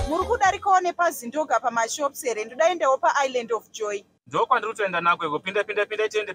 muri kudarikawo nepazindoga pamashops here ndodaendawo paisland of joy ndokwandiri kutoenda nako iko pinda pinda pinda tiende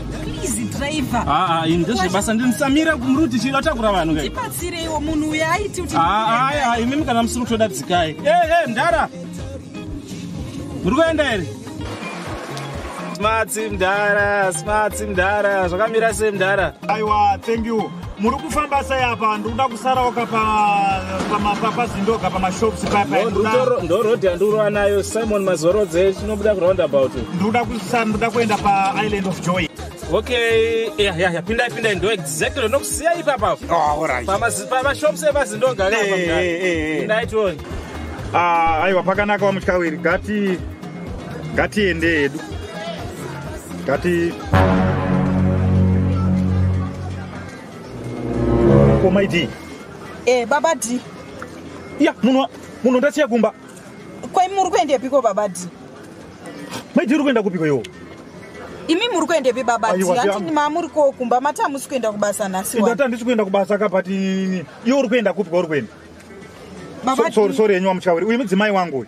please driver ah ah in this basa ndin samira kumruti chiri atakura vanhu kai ipatsireiwo munhu uya aiti kuti ah ah imi mukana musiri kutoda dzikai eh eh ndara muri kuenda here smarts mdara smarts mdara zvakamira sei mdara aiwa thank you muri kufamba sei apa ndikuda kusaraoka pazindoga pamashops payapandoroad yandirova nayo simon mazorodze chinobuda kuroundabout ndikuda kuenda paisland of joy okay yeah, yeah, yeah. pindai pindai ndo exactly ndokusiya ipapa pamashops oh, epazindoga pindai tione ah, aiwa pakanaka wamutyawiri gati ngatiende hedu ngati komai d eh baba d ya munhu munhu ndasiya kumba kwai muri kuendepiko baba d maidi uri kuenda kupiko iwo imi muri kuendepi baba hanti mamuri ko kumba mati hamusi kuenda kubasa nhasi ndati handisi kuenda kubasa ka but iwo uri kuenda kupi kwauri kuenda sorry sorry henyu wamuchauri uyu mudzimai wangu uyu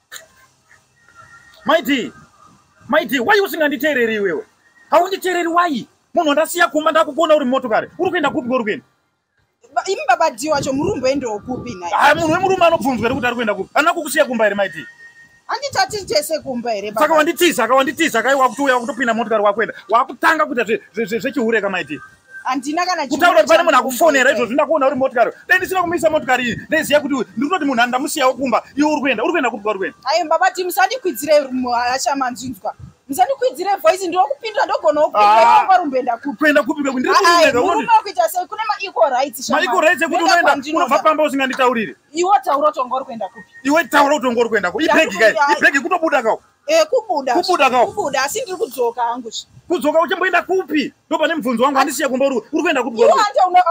Maiti, maiti, why usinganditeereri iwewe? Haunditeereri why? Munhu wandasiya kumba ndakukuona uri motokari. Uri kuenda kupi kwori kuenda? Imi baba Dhi wacho muri kumboendawo kupi naye? Ah, munhu wemurume anobvunzwa here kuti ari kuenda kupi? Ana kukusiya kumba here maiti? Anditati tese kumba here baba? Saka wanditiza, ka wanditiza, ka wakutouya wakutopinda motokari wakuenda. Wakutanga kuita zvechihureka maiti. Zve, zve, zve, handina kana kutaura kuti pane munhu akufonera izvozvi ndakuona uri motikari dai ndisina kumisa motikari iyi ndaiziva kuti ndiri kutoti munhu andamusiyawo kumba iwe uri kuenda uri kuenda kupi kwauri kuenda ayi baba ti musandikwidzire hasha manzvinzwa musandikwidzire voice ndiri kupindura ndogonawo kuaa ah. rumbenda kupi kuenda kupi kekuti ndiri kuenda kuita sei kune maequal rights maequal rights ekuti unoenda unobva pamba usinganditaurire iwe taura kuti wanga uri kuenda kupi iwe taura kuti wanga uri kuenda kupi ibhegi kai ibhegi kutobuda kao Eh, kubuda kubuda ka kubuda asi ndiri kudzoka hangu kudzoka uchamboenda kupi ndo pane mubvunzo wangu andisiya kumba uri kuenda kupi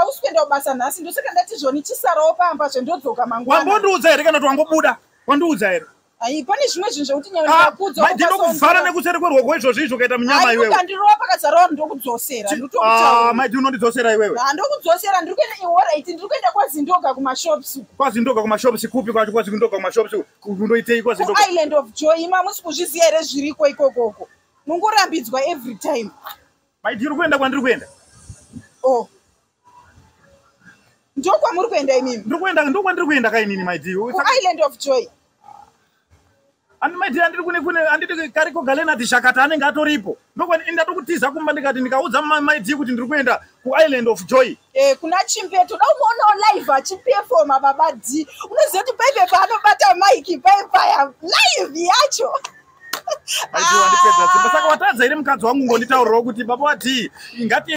ausi kuenda kubasa nhasi ndosaka ndati zvoni chisarawo pamba zve ndodzoka mangwana wambondiudza here kana kuti wangobuda wandiudza here ai pane zvimwe zvinhu zvekuti nyandinokuvhara ah, nekuseri kwerwoko izvozvi izvo ukaita munyama iweweandirova pakazarawo ndokudzosera ah, maiti unondidzosera iwewe ah, ndokudzosera ndiri kuenda ihoraiti ndiri kuenda kwazindoga kumashops kwazindoga kumashops kupi kwacho kwazindoga kumashops kundoiteiko zvinhu island of joy imi hamusi kuzviziva here zviriko ikokoko mungorambidzwa every time maiti uri kuenda kwandiri kuenda o oh. ndokwamuri kuenda imimi ndiri kuenda ndokwandiri kuenda ka inini maiti island of joy ani maiti andiri kune kune anditi kariko galenati shakata anenge atoripo ndokwani ndatoku tiza kumba ndikati ndikaudza maiti kuti ndiri kuenda kuisland of joy Eh, kuna chimbe toda kumoonawo live achipefoma baba d unoziva kuti paive paanobata mike pai paya live yacho achiwandipedza simba saka watadza iri mukadzi wangu ngonditaurirawo kuti baba d ngati